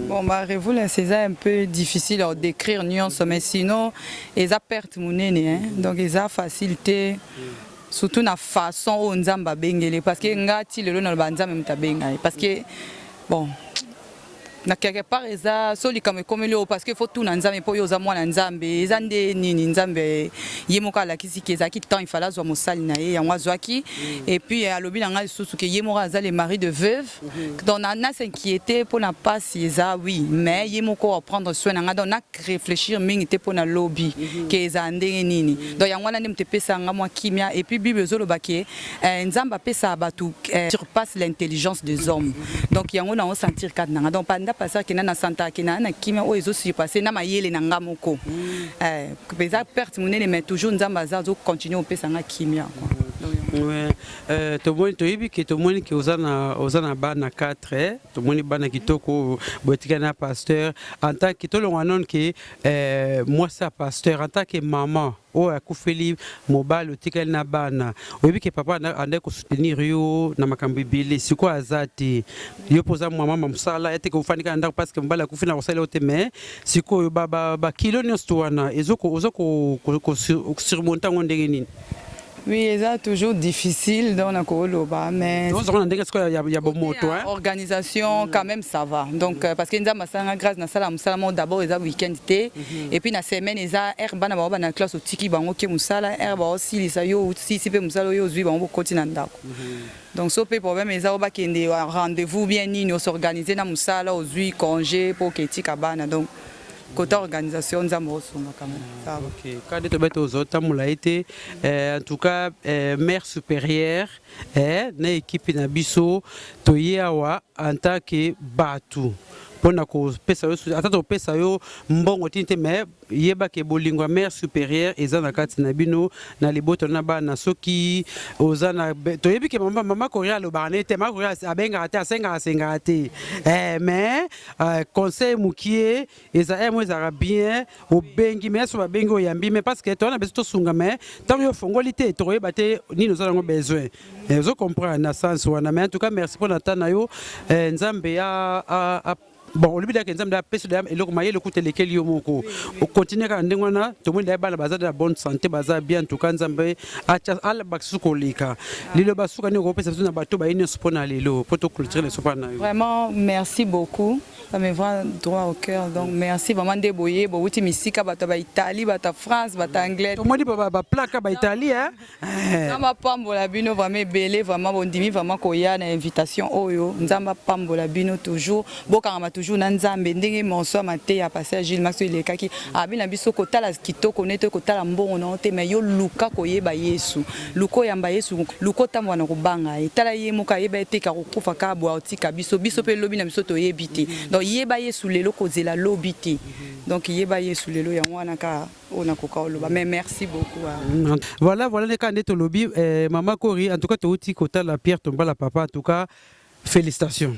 bon ba revoulence eza un peu difficile à décrire nyonso mais sinon eza perte monene hein? donc eza facile te surtout na façon oyo nzambe abengele parce que nga ti lelo naloba nzambe moto abenga ye parce que bon na quelque part eza so likambo ekomeli oyo parce que faut tuna nzambe mpo yo oza mwana nzambe eza nde nini nzambe ye moko alakisi ke ezalaki temps ifale azwa mosali na ye yango azwaki et puis alobi na ngai lisusu ke ye moko aza le mari de veuve Mhm. Donc na, na s'inquiéter mpo na mpasi eza oui mais ye moko wa prendre soin na ngai donc na réfléchir mingi te mpo na lobi mhm. ke ezala ndenge nini mhm. donc yango wana nde moto epesaka ngai mwa kimia et puis bible ezoloba ke eh, nzambe apesaka bato eh, surpasse l'intelligence des hommes donc yango na osentir kati na ngai donc panda passer kenda na santaka kenda na kimia oyo ezo surpasse na mayele na ngai moko eh, eza perte monene mais toujours nzambe aza azocontinue kopesa ngai kimia quoi. Euh, tomoni toyebi ke tomoni ke oza na oza na bana 4 eh? tomoni bana kitoko botika na pasteur en tant que tolongwa none ke eh, mwasi ya pasteur en tant que maman oyo akufeli mobali otikali na bana oyebi ke papa andaki kosoutenir yo na makambo ebele sikoyo aza te yo mpo oza mama ma mosala eteke ofandi kaka ndako parceke mobali akufi na kosala yo te mais sikoyo bakilo nyonso to wana oza kosurmonte yango ndenge nini Oui, eza toujours difficile donc na koloba mais Ozo kona ndenge sikoyo ya, ya bomoto hein. organisation quand même ça va donc euh, parce que nzambe asalanga grâce nasala mosala moko d'abord eza week-end te et puis na semaine eza heure bana bango bana classe otiki bango ke mosala heure baosilisa yo osilisi mpe mosala oyo ozwi bango bokoti na ndako donc so mpe problème eza oyo bakende wa rendez-vous bien nini osorganize na mosala ozwi congé mpo oketika bana donc Côté organisation, Nzambo Osunga quand même. Ça va. Ok, kade tobe tozo tambola ye te Eh, en tout cas eh, mère supérieure eh, na ekipe na biso toye awa en tant que bato mpo na kopesa yo soutien. ata topesa yo mbongo tini te mais yeba ke bolingo ya mère supérieure eza na kati na bino na libota na bana soki oza na be- toyebi ke mama, mama koria alobaka na ye te mama koria abengaka te asengaka asengaka te eh, mais Uh, conseil mukie eza eh, mo ezalaka bien obengi mais soki babengi oyambi mais parce que towana biso tosunga mais ntango yo ofongoli te tokoyeba te nini oza nango besoin eh, ozo comprendre na sens wana mais en tout cas merci mpo na temps na yo eh, nzambe a, a, a bon olobi dake nzambe apesi da eloko mayele okuta elekeli yo moko okontinue kaka ndenge wana tomoni daye bana baza na bonne santé baza bien en tout cas nzambe acha ala bakisusu koleka lelo basuka nini okopesa biso na bato baye nyonso mpo na lelo mpo tokulture na esopa na yo vraiment merci beaucoup ça me va droit au cœur donc merci vraiment nde boye bowuti misika bato ba italie bato ya france bato ya anglais tomoni baplaka ba italie na eh. eh. bapambola bino vraiment ebele vraiment bondimi vraiment koya na invitation oyo nzambe apambola bino toujours Bokangama toujours na Nzambe ndenge monso ya mateya ya Pasteur Gilles Max elekaki abi na biso kotala kitoko ne to kotala mbongo na te mais yo luka koyeba Yesu luko yamba Yesu luko tambwa na kobanga ye tala ye moko ayeba ete ka kokufa ka bwa otika biso biso pe lobi na biso toyebi te donc yeba Yesu lelo kozela lobi te donc yeba Yesu lelo yango wana ka oyo nakoka oloba mais merci beaucoup hein. voilà voilà nde kaka nde tolobi eh, mama Kori en tout cas touti kotala Pierre Tombala papa en tout cas Felicitation.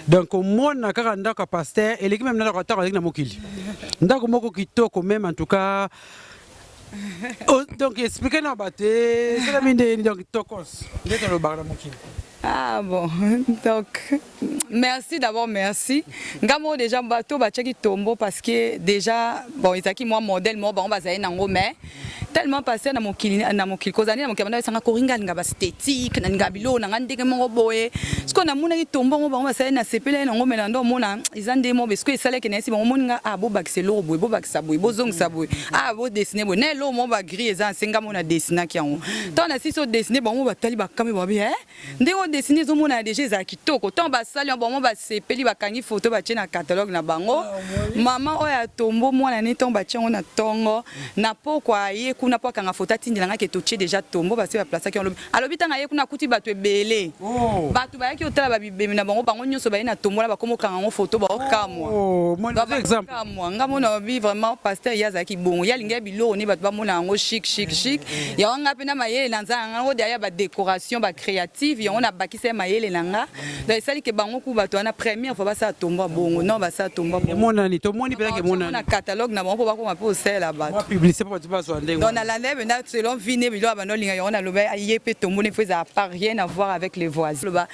Donc komona kaka ndako ya pasteur eleki meme ndako atako aleki na mokili. Ndako moko kitoko meme en tout cas oh, donc expliquer na bato esala mindeni donc tokos nde tolobaka na mokili Ah bon, donc merci d'abord, merci. Ngamo déjà bateau ba cheki tombo parce que déjà bon ezaki moi modèle moi bango bazali nango mais tellement passer na mokili na mokili kozali na mokili banda esanga koringa linga ba statique na linga bilo na ngande ke moko boye siko na mona ki tombo ngo bango basali na sepele na ngo mena ndo mona izande mo be siko esale ke na esi bango moninga a ah, bo bakise lo boye bo bakisa boye bo zongisa boye a ah, bo dessiner boye na lo mo ba gris eza senga mona dessiner ki yango tant na siso dessiner bango batali bakame ba be eh Ndenge o dessiner ezo monana dejà ezala kitoko. Tango ba sali yango ba maman ba sepeli ba kangi photo ba tie na catalogue na bango. Maman oyo ya tombeau mwana ne tango ba tie yango na tongo na pokwa aye kuna po akanga photo atindela nga ke to tie dejà tombeau basi ba placaki yango lobi. Alobi tango aye kuna akuti batu ebele. Batu bayaki ko tala ba bibemi na bango bango nionso baye na tombeau wana ba komi ko kanga yango photo bao kamwa. Ba kamwa nga mona olobi vraiment pasteur ye azalaki bongo ye alingaki biloko ne bato bamona yango chic chic chic yango nga mpe na mayele na nzala nga ngo derrière ba decoration ba creative yango na bakisa ya mayele na nga donc esali ke bango ku bato wana première fois basala tombo bongo non basala tombo bongo emonani tomoni mpe ke monani na catalogue na bango mpo bakoma mpe osalela bato publicité mpo bato bazwa ndenge donc na landa mpe na selon vie ne biloko bando linga yango na loba ye mpe tombo ne faut eza pas rien à voir avec les voisins loba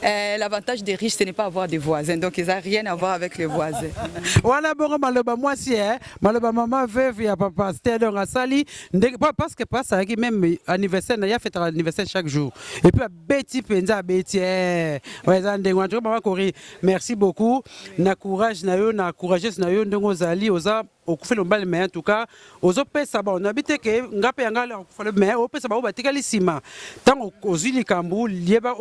euh, l'avantage des riches ce n'est pas avoir des voisins donc eza rien à voir avec les voisins wana bongo maloba mwasi eh maloba mama veuve ya papa stel donc asali ndenge parce que papa asalaki même anniversaire na ye afetaka anniversaire chaque jour et puis abeti mpenza abeti eh, eza ndenge wana mama kori merci beaucoup na courage na yo na courageuse na yo ndenge ozali oza okufeli mobali mais en tout cas ozopesa bango nayebi te ke nga mpe yanga okufeli mais opesa bango batikali nsima ntango ozwi likambo yeba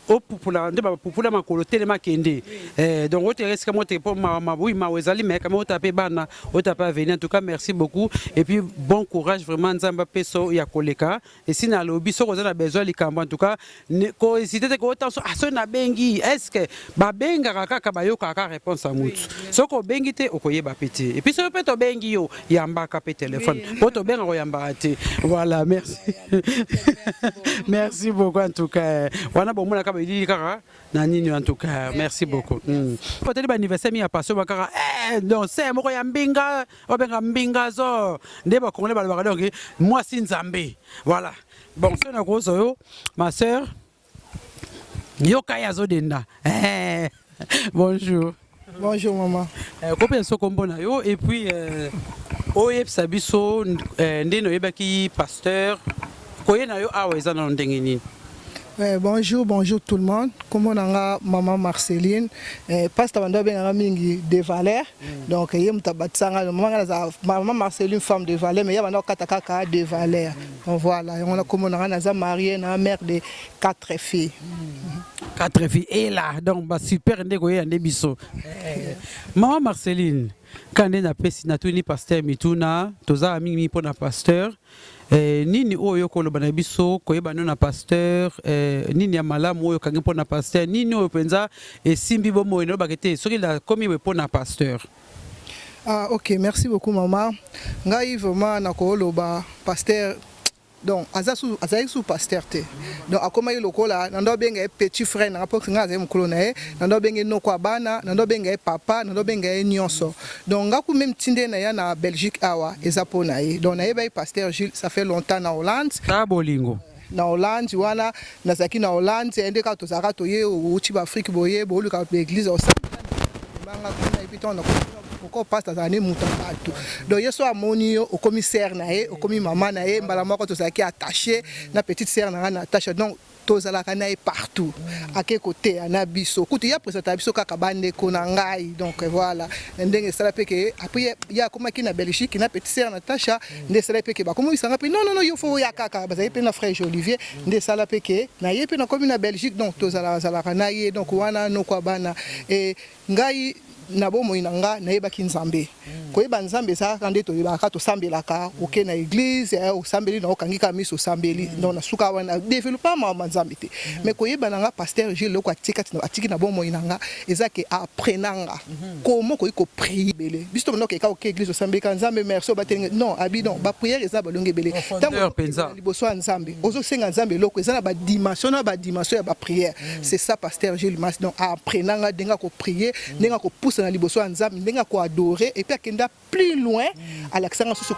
opupula nde bapupula makolo telema kende eh, donc oteka esika mote mpo oui mawa ezali mais kama ota mpe bana ota mpe avenir en tout cas merci beaucoup et puis bon courage vraiment nzambe apesa ya koleka esi nalobi soki oza na besoin likambo en tout cas kohésite te koota so ah, soki nabengi est ce que babengaka kaka bayokaka réponse ya motu soki obengi te okoyeba mpe te epuis soki mpe tobengi yo yambaka pe telephone po tobenga koyambaka te voilà merci merci beaucoup en tout cas wana bomonaka belili kaka na nini en tout cas merci beaucoup hmm. otali baanniversaire mingi ya pasio bakaka eh, don se moko ya mbinga obenga mbinga zo nde bakongole balobaka donk mwasi nzambe voilà bon soki nakozwa yo ma sœur yoka ye azodenda eh, bonjour bonjour maman eh, kopesa so kombo na yo et puis eh, oyebisa biso eh, ndeni oyebaki pasteur koye na yo awa eza nano ndenge nini Eh, bonjour, bonjour tout le monde. Comment on a maman Marceline, eh, pasteur Bando ben a mingi de valeur. Mm. Donc il y a maman Marceline femme de valeur mais il y a maintenant kata kaka de valeur. Voilà yango na kombo na nga naza marie na mère de 4 filles. Hmm. Quatre filles et là donc ba super nde koyeya nde biso. Eh. Maman Marceline kaka nde napesi natuni pasteur mituna tozala mingi mingi mpo na pasteur eh, nini oyo okoloba na biso koyeba no na pasteur eh, nini ya malamu oyo okangi mpo na pasteur nini oyo mpenza esimbi bomoi nayobaka te soki nakomi boye mpo na pasteur Ah ok merci beaucoup maman ngai vraiment na koloba pasteur donc aza su azalaki su pasteur te donc akomaki lokola na ndo abenga ye petit frère na nga mpo ngai azali mokolo na ye na ndo abenga ye noko ya bana na ndo abenga ye papa na ndo abenga ye nyonso donc nga ku meme tinde na ya na belgique awa eza mpo na ye donc nayebaki pasteur jules ça fait longtemps na hollande ta bolingo na Hollande wana nazalaki na Hollande nde kaka tozalaka toye outi ba Afrique boye boluka ba église osamanga kuna epi ntango nakoko pasta azala nde moto ya bato donc ye so amoni yo okomi sere na ye okomi mama na ye mbala moko tozalaki attache na petite sere na ngai na attache donc tozalaka na ye partout ake koteya na biso kutu ye apresentaka biso kaka bandeko na ngai donc voilà ndenge esala mpe ke apres ye akomaki na belgique na petite sere na tacha nde sala pe ke ba komo isanga pe non non non yo fo ya kaka ba zali pe na frère Olivier nde sala pe ke na ye pe na komi na Belgique donc to zala zala kana ye donc wana no kwa bana et ngai na bomoi na nga nayebaki nzambe mm. koyeba nzambe ezalaka nde toyebaka tosambelaka oke na eglise eh, osambeli na okangi kaka miso osambeli mm. donc na suka wana developa mama nzambe te mm. mais koyeba na nga pasteur gile loko atiki na bomoi na nga eza ke aprenanga Comment okoki ko prier ebele biso tobanda kokeka oke eglise osambeleka nzambe merci obateli ngai non abi non ba prière eza balongi ebele ntango Profondeur penza. ozokende liboso ya nzambe ozosenga nzambe eloko eza na ba dimension na ba dimension ya ba prière c'est ça pasteur Gilles Mas donc a apprena nga ndenge ya ko prier ndenge ya kopusana liboso ya nzambe ndenge ya ko adorer et puis akenda plus loin alakisanga susu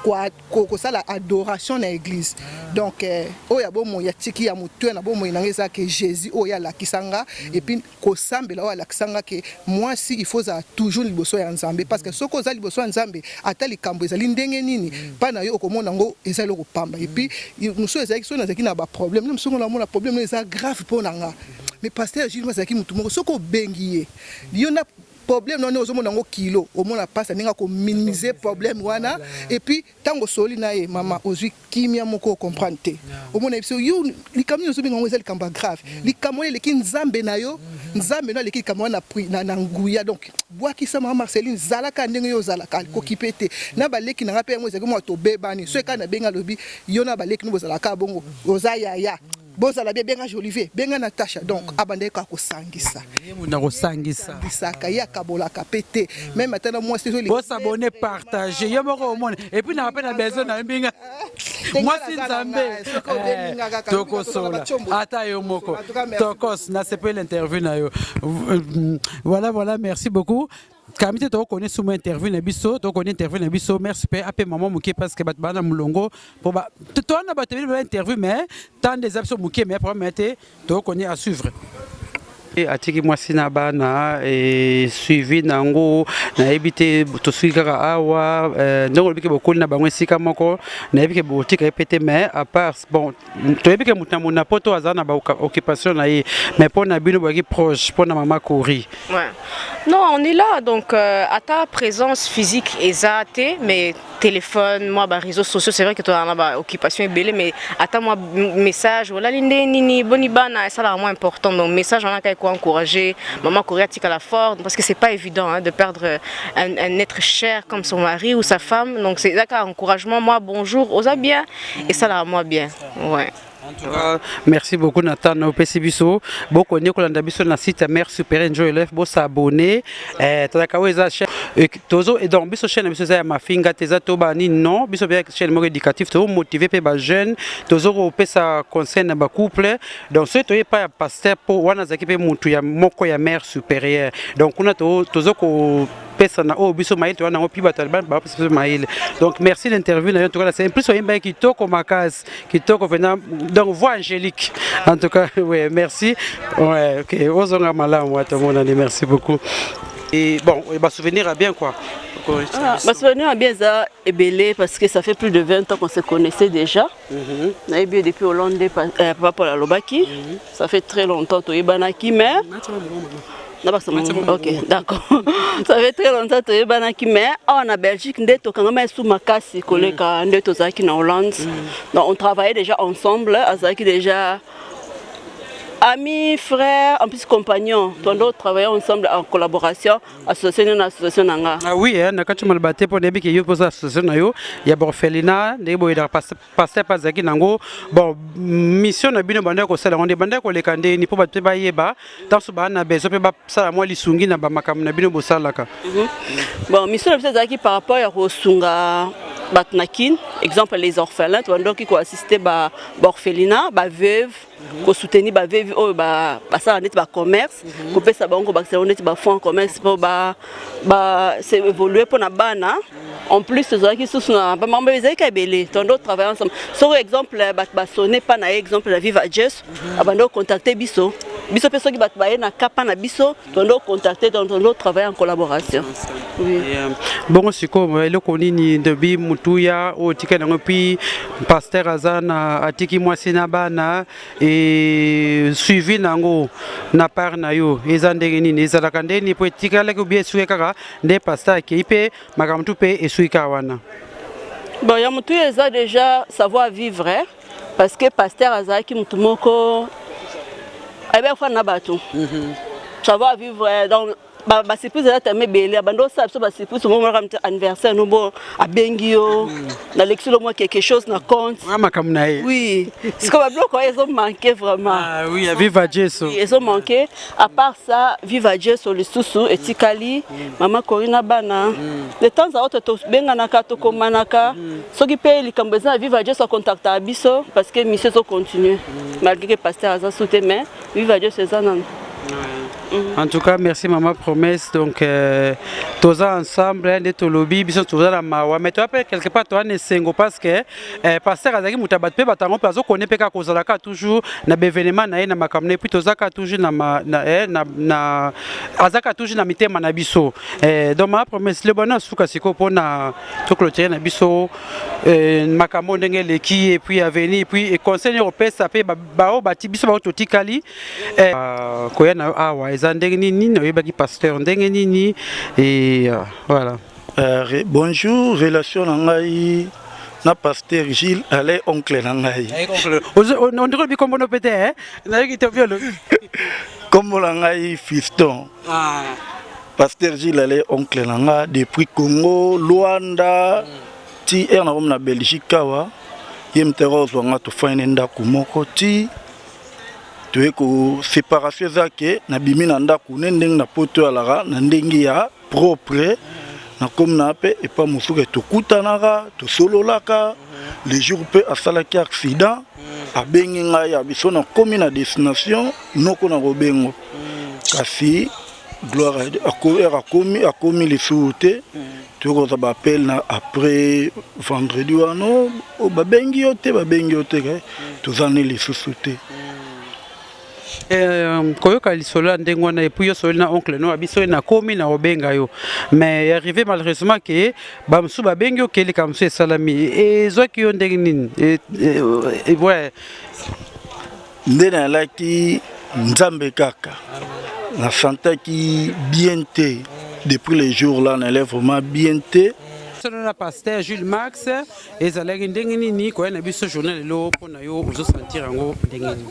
kosala adoration na église donc euh, oyo ya bomoi ya tiki ya motu na bomoi nanga eza ke jésus oyo alakisanga et puis kosambela oyo alakisanga ke mwasi il faut ozala toujours liboso ya nzambe parce que soki oza liboso ya nzambe ata likambo ezali ndenge nini mpa na yo okomona yango eza eloko pamba et puis mosusu ezalaki soki nazalaki na baproblème na mosusu namona problème eza grave mpo na nga mais pasteur jules azalaki motu moko soki obengi ye yo na Problème na yo ndenge ozo mona yango kilo omona pasi ya ndenge ako minimiser problème wana et puis tango osololi na ye maman ozui kimia moko o comprendre te omona ye biso yo likambo nini ozo benga yango eza likambo ya grave likambo wana eleki nzambe na yo nzambe no aleki likambo wana na na nguya donc buakisa maman Marceline zala kaka ndenge yo ozalaka ko kipe te na ba leki na nga pe yango ezalaki mua tobebani soki kaka na bengi alobi yo na ba leki no bozalaka kaka bongo oza yaya Bozala bien benga jolive benga natasha donc abandaki kaka kosangisa ye mutu akosangisa bisaka ye akabolaka pe te meme ata na mwasi ezoli bosabone partage yo moko omona epuis na wape na besoin na mbinga mwasi nzambe eh, tokosola ata yo moko tokos nasepeli interview na yo euh, voilà voilà merci beaucoup kami te tokokoni sumu interview na biso tokokoni interview na biso merci mpe ape mama moke parce que bato bana molongo mpo towana bato ebele bela interview mais temps nde eza biso moke mais problème te tokokoni à suivre atiki mwasi na bana e, suivi na yango nayebi te tosuki kaka awa e, ndenge olobiki bokoli na bango esika moko nayebi ke botika ye mpe te mais apart bon toyebi ke moto na moto na poto aza na baoccupation na ye mais mpo na bino boyaki proche mpo na mama kori ouais. non on est là donc euh, ata présence physique eza te mais téléphone mwa baréseau sociaux c'est vrai que tozala na baoccupation ebele mais ata mwa message olali nde nini boni bana esalaka mwa important donc message wana kaka ekoencourage mama kori atikala fort parce que c'est pas évident hein, de perdre euh, un, un être cher comme son mari ou sa femme donc eza kaka encouragement mwa bonjour oza bien esalaka mwa bien ouais. En tout cas, merci beaucoup Nathan opesi biso boko nde kolanda biso na site ya mère supérieure njo elef bo s'abonner eh tolaka oyo eza chaîne euh, tozo et donc biso chaîne biso eza ya mafinga te eza to ba nini non biso bia chaîne moko éducatif to motiver pe ba jeunes tozo ko pesa conseil na ba couple donc ce to pas ya pasteur po wana zaki pe mutu ya moko ya mère supérieure donc kuna to tozo ko pesa na oyo biso mayele towana yango mpi bato alibani bapesa biso mayele donc merci na interview na yo ntoka nase plus oyembaki kitoko makasi kitoko vraimen donc voix angélique en tout cas ouais, merci ouais, ok ozonga malamu ata omonani merci beaucoup et bon basouvenir ya bien quoi ah, basouvenir ya bien eza ebele parce que ça fait plus de 20 ans qu'on se connaissait déjà Mhm. nayebi ye depuis hollande nde eh, papa paul alobaki mhm. ça fait très longtemps toyebanaki mais na ok d'accord ça fait très longtemps toyebanaki mais awa na belgique nde tokangama esu makasi koleka mhm. nde tozalaki na hollande donc on travaillait déjà ensemble azalaki déjà amis, frères, en plus compagnons. Tondo travaillons ensemble en collaboration. association nini na association na nga ah oui hein, na kati maloba te mpo nayebi ke yo mpoza association na yo ya borphelina ndenge boyedaka paster mpe azalaki nango bon mission na bino bandaki kosala yango nde bandaki koleka ndeni mpo bato mpe bayeba ntanso baa na besoin mpe basala mwa lisungi na bamakambo na bino bosalaka mhm. bon mission na biso ezalaki par rapport ya kosunga bato na kin exemple les orphelins tobandaki koassiste baorphelina baveuve ba Mhm. ko soutenir ba veuve oyo ba basala neti ba commerce mhm. ko pesa bango ko bakisa bango neti ba fonds commerce po ba ba se évoluer pona bana mhm. en plus tozalaki susu na bamambo ezalaki ebele tondo travaille ensemble soko exemple bato basone mpa na ye exemple na viva jes abandi kocontacte biso biso mpe soki bato baye na kapa na biso tondo contacter donc tondo travailler en collaboration oui. yeah. bongo sikoyo eloko nini ndobi motuya oyo otikali yango mpi paster aza na atiki mwasi na bana e suivi na yango na part na yo eza ndenge nini ezalaka nde nini mpo etikalaki obi esuki kaka nde paster akei mpe makambo tu mpe esuki kaka wana bon ya motuya eza déjà savoir vivre parce que pasteur azalaki mutu moko ayebaki kofanda na bato mhm. savoir vivre euh, donc basurprise eza tellement ebele abandi osala biso basurprise omomonaka mte anniversaire nobo abengi yo mhm. nalekisi lo mwa quelque chose na compte ah, makambo na ye oui sikoyo babiloko oyo ezomanke vraiment ah, oui, viva jesu ezomanke À part ça, viva Jesu lisusu etikali mama Corina bana de temps à autre tobenganaka tokomanaka soki mpe likambo eza na viva Jesu akontaktaka biso parce que mission ezo continue malgré que pasteur aza su te mais viva Jesu eza nanu en tout cas merci maman promesse donc euh, toza ensemble hein, nde tolobi biso toza na mawa mais toza mpe quelque part toza na esengo parce que eh, pasteur azalaki moto ya bato mpe bato yango mpe azokone mpe kaka kozala kaka toujours na baevenema na ye na makambo na ye mpe toza kaka toujours na, ma, na, eh, na, na aza kaka toujours na mitema na biso eh, donc ma promesse le bwana suka sikoyo mpo na toclotire na biso eh, makambo ndenge eleki epuis aveni epuis conseil nio kopesa mpe baoyo bati biso baoyo totikali eh, uh, koya na yo awa eza ndenge nini oyebaki pasteur ndenge nini e, uh, voilà Uh, bonjour, relation na ngai na pasteur Gilles Alain oncle na ngai. On dirait bikombo no pete hein. Na yiki to violo. Kombo na ngai Fiston. Ah. Pasteur Gilles Alain oncle na nga depuis Congo, Luanda, mm. ti er na na Belgique awa. Ye mtera ozwa nga tofani ndako moko ti toye ko séparation eza ke nabimi na ndako ne ndenge na poto alaka na ndenge ya propre nakomi na mpe epa mosuke tokutanaka tosololaka le jour mpe asalaki accident abengi ngai ya biso nakomi na destination noko na kobengo kasi gloire heure akomi akomi lisusu te tokozwa bappel na après vendredi wana oh, babengi yo te babengi yo te toza ne lisusu te Euh, koyoka lisolo ya ndenge wana epuis yo sololi na oncle no abiso nakomi na obenga yo mais ya arrive malheureusement ke bamosusu babengi yo ke likambo mosusu esalami ezwaki yo ndenge nini ouais nde nalaki nzambe kaka na santaki bien te depuis le jour là nalai vraiment bien te solo na pasteur jules max ezalaki ndenge nini koya na biso journal lelo mpo na yo ozosentir yango ndenge nini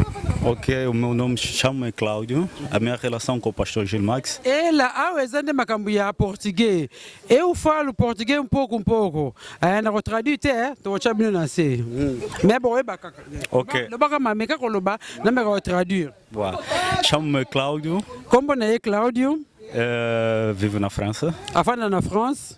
Ok, o meu nome chama Cláudio. A minha relação com o pastor Gil Max. ela awa eza nde makambo ya portugais eu falo portugais um pouco um pouco eh, na kotraduire te eh, tokotya bino na se Mm. me boyeba kaka Ok. lobaka mameka koloba nameka kotraduire Boa. Chamo-me Cláudio, nkombo na ye claudio eh, vivo na França. afanda na france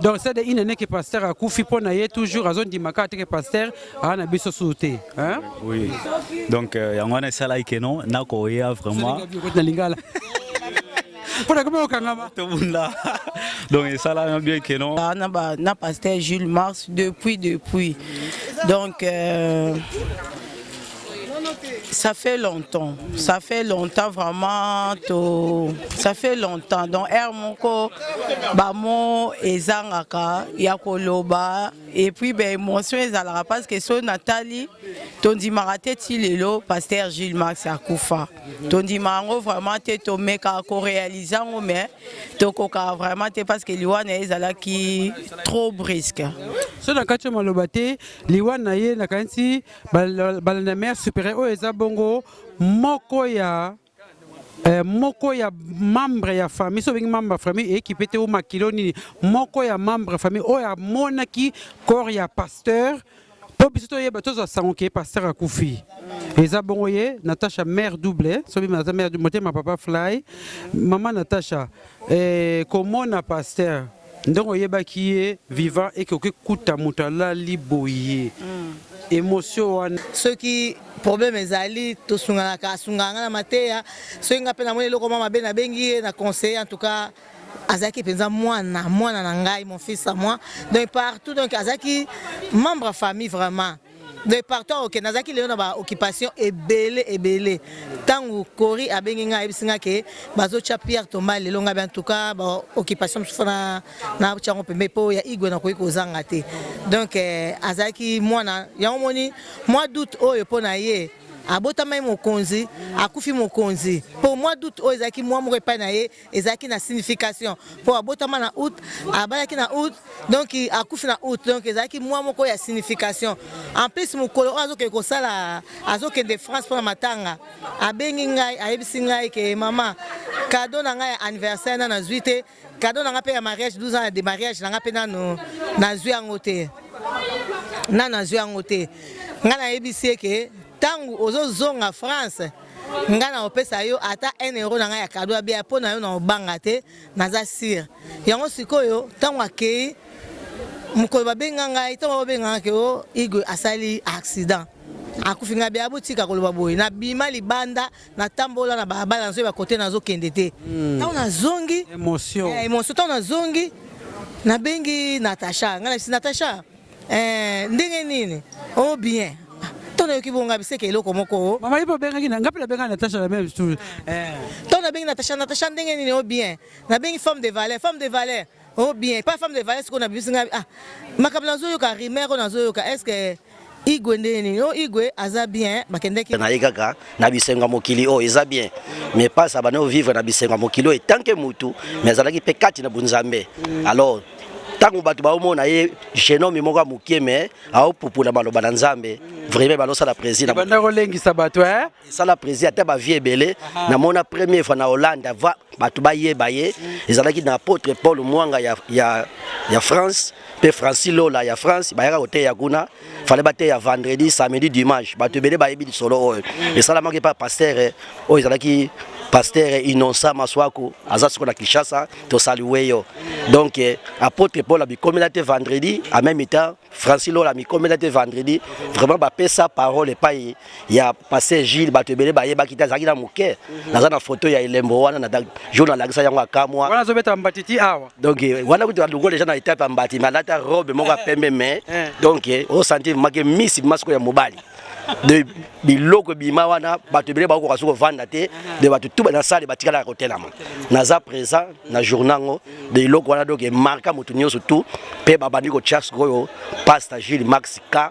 donc c'est une année que pasteur akufi mpo na ye toujours azondima kaka te ke pasteur aa na biso suu te hein? oui donc euh, yango wana esalaki keno nakoya vraiment na lingala mpo na komi kokangama tobunda donc esalama bien que non ah, na, ba, na pasteur jules mars depuis depuis donc euh, Ça fait longtemps, ça fait longtemps vraiment, to... ça fait longtemps. Donc, air moko, bamo ezangaka, yakoloba, et puis ben émotion ezalaka parce que so Nathalie, tondi marate tilelo, pasteur Gilles Max akufa. Tondi mango vraiment te to meka ko réaliser ngo mais to koka vraiment te parce que liwana ezala ki trop brisque. So na kacho maloba te, liwana ye na kanti balanda mère supérieure oyo eza bongo moko ya eh, moko ya membre ya famille so obengi membre ya famille ekipe te o makilo nini moko ya membre ya famille oyo amonaki corps ya pasteur mpo biso toyeba tozwa sango ke pasteur akufi eza bongo ye natacha mare double soki aza mare motema papa fly mama natacha eh, komona pasteur ndenge oyebaki ye vivant eke okekuta moto alali boye mm. emosio wana soki problème ezali tosunganaka asungaka ngai na mateya soki ngai mpe namoni eloko mwa mabe nabengi ye na conseiller en tout cas azalaki mpenza mwana mwana na ngai mon fils à moi donc partout donc azalaki membre ya famille vraiment de partout aokende nazalaki lelo na baoccupation ebele ebele ntango kori abengi ngai ayebisi ngai ke bazotya pierre toma lelo ngai bantuka baoccupation mosusu na natya yango pembe mpo ya igwe nakoki kozanga te donc eh, azalaki mwana yango moni mwa doute oyo mpo na ye abotamaki mokonzi akufi mokonzi mpo mwa doute oyo ezalaki mwa moko epai na ye ezalaki na signification mpo abotama na août abalaki na août donc akufi na août donc ezalaki mwa moko ya signification en plus mokolo oyo azokende kosala azokende france mpona matanga abengi ngai ayebisi ngai ke mama kado na ngai ya anniversaire na nazwi te kado na ngai mpe ya mariage 12 ans ya de mariage na ngai mpe nano nazwi yango te nano nazwi yango te ngai nayebisi ye ke ntango ozozonga france nga na opesa yo ata 1 euro na ngai ya kado ya bia mpo na yo na obanga te naza sire yango sikoyo ntango akei mokolo babenga ngai ntango babenga ngai ke o oh, igwe asali accident akufi ngai bia botika koloba boye nabima libanda natambola na balabala nazoyeba kote nazokende te hmm. ntango nazongi emotion eh, ntango nazongi nabengi natacha ngai nabisi natacha Eh, ndenge nini? Oh bien. To nayoki bonga biseke eloko moko. Oh. Mama ipo bengaki na ngapi na benga Natacha la même chose. Eh. To na bengi Natacha Natacha ndenge nini? Oh bien. Na bengi femme de valeur, femme de valeur. Oh bien, pas femme de valeur siko na bibisi ngai. Ah. Makambo nazoyoka rumeur oyo nazoyoka. Est-ce que igwe nde nini o igwe aza bien bakendeki na ye kaka na bisengo ya mokili oyo eza bien mais pasi abandi ovivre na bisengo ya mokili oyo etanke motu mais azalaki mpe kati na bonzambe alors ntango bato baomona ye genome moko ya mokie me aopupula maloba na nzambe vraiment balosala présidibanda kolengisa bato eh? esala prési ata bavie ebele namona premier fois na hollande ava bato bayeba ye ezalaki na apôtre paul mwanga ya, ya, ya france mpe francis lola ya france bayaka koteya kuna fale bateya vendredi samedi dimanche bato ebele bayebi lisolo oyo esalamaki mpa pastere eh, oyo ezalaki pastere innonsa maswaku aza soko na kinshasa tosalue yo donc eh, apôtre paul amikomela te vendredi en même temps francis lola amikomela te vendredi vraiment bapesa parole epai ya paster gile bato ebele bayebaki te azalaki na moke naza na foto ya elembo wana jour nalakisa yango akamwa donc eh, wana kutu alongo deja na etape ya mbati me alata robe moko ya pembe me eh. donc osanti make misi masiko ya mobali de biloko ebima wana bato ebele bakokoka soki kovanda te de bato tu na sale batikalaka kotelama naza présent na journa yango de eloko wana donc emarka moto nyonso tu mpe babandi kotya sikoyo pasta gile max k